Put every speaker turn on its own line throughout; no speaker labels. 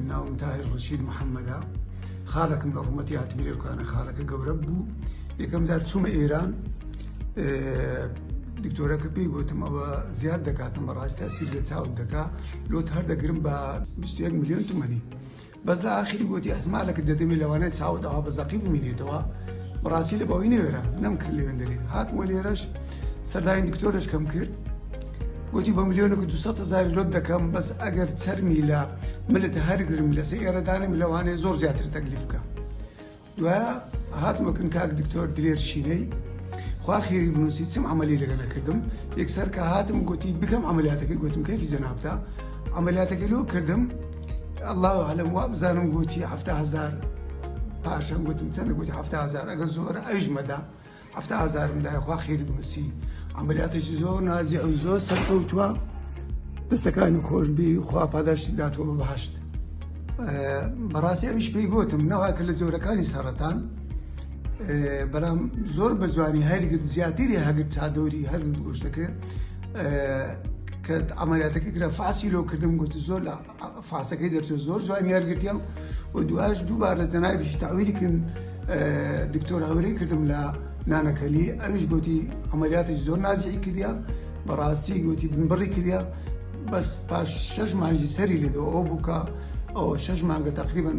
ناوم تاهیر ڕەشید محەممەدە خالەکم لە ڕوومەتی هاتمی لێکانە خالەکە گەورە بوو یەکەم جار چوومە ئێران دکتۆرەکە پێی گوتم ئەوە زیاد دەکاتم بەڕاستی ئەسیر لە چاوت دەکا لۆت هەر دەگرم بە 21 میلیۆن تومەنی بەس لە ئاخری گوتی ئەحمالەکە دەدەمێ لەوانەیە چاوت ئەوە بە زەقی بمینێتەوە بەڕاستی لە بەوەی نێوێرە نەم کرد لەوێندەری هاتمە لێرەش سەرداین دکتۆرش کەم کرد گۆتی بە ملیۆنەکو دوو سەد هەزاری لۆت دەکەم بەس ئەگەر چەرمی لە ملت هەرگرم لەسە ئێرە دانێم لەوانەیە زۆر زیاتر تەگلیف بکە دوایە هاتمەکن کاک دکتۆر درێر شینەی خوا خێری بنووسی چم عملی لەگە نەکردم یەکسەر کە هاتم گوتی بکەم عملیاتەکەی گوتم کەفی جەنابتە عملیاتەکە لۆ کردم الله عالم وا بزانم گوتی هەفتا هزار پاشم گوتم چەندە گوتی هەفتا هزار ئەگە زۆر ئەویش مەدا هەفتا هەزارم دایە خوا خێری بنووسی عەمەلیاتێکی زۆر نازیع و زۆر سەرکەوتووە دەستەکانی خۆشببی خوا پاداشتی داتەوە بە بەهەشت بەڕاستی ئەویش پێی گوتم نەوە کە لە جۆرەکانی سەرەتان بەڵام زۆر بە جوانی هەرگرد زیاتری هەگرد چادۆری هەرگرد گۆشتەکە کە ئەمەلاتەکە کرا فاسی لۆکردم گوت زۆر لە فاسەکەی دەرچوو زۆر جوانی هەرگرتیان و دوایش دووبارە جەنابیشی تاویلی کرد دکتۆر هەورەی کردم لە نانەکەلی ئەویش گوتی ئەمەلیاتی زۆر نازیی کردیا بەڕاستی گوتی بنبڕی کردیا بەس پاش شش مانجی سەری لێدەوە ئەو بووکە ئەو شش مانگە تقریبن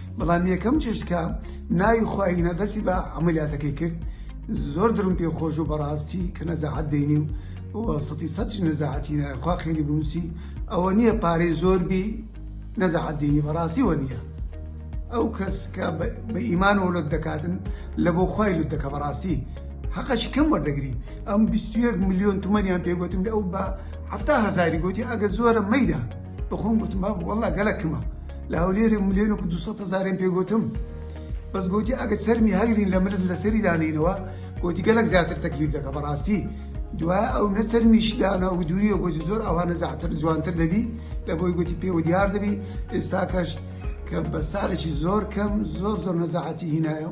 بەڵام یەکەم چشت کە ناوی خوینە دەسی بە عملیاتەکەی کرد زۆر درم پێ خۆش و بەڕاستی کە نەزەعات دەینی و وەسەتی سەچ نەزاعەتی نایخوا خێری بنووسی ئەوە نییە پارەی زۆر بی نەزەعات دینی بەڕاستی وە نییە ئەو کەس کە بە ئیمان و لەت دەکاتن لە بۆ خی لوت دەکە بەڕاستی حقش کەم وەردەگری ئەم 21 میلیۆن تومەنیان پێگوتم لە ئەو بە هەهزاری گوتی ئەگە زۆرە مەیدا بەخۆم گوتم بابە وەڵا گەلە کمە لە هەولێرێ ملێن و دوسە هەزارێن پێ گوتم بەس گوتی ئەگە سەرمی هەگرین لە مرد لە سەری دانینەوە گوتی گەلک زیاتر تەکلیف دەکە بەڕاستی دوای ئەو نەسەرمیش دانا و دووریە گوتی زۆر ئەوانە زیاتر جوانتر دەبی لە بۆی گوتی پێ و دیار دەبی ئێستاکەش کە بە ساڵێکی زۆر کەم زۆر زۆر نەزاعەتی هینایە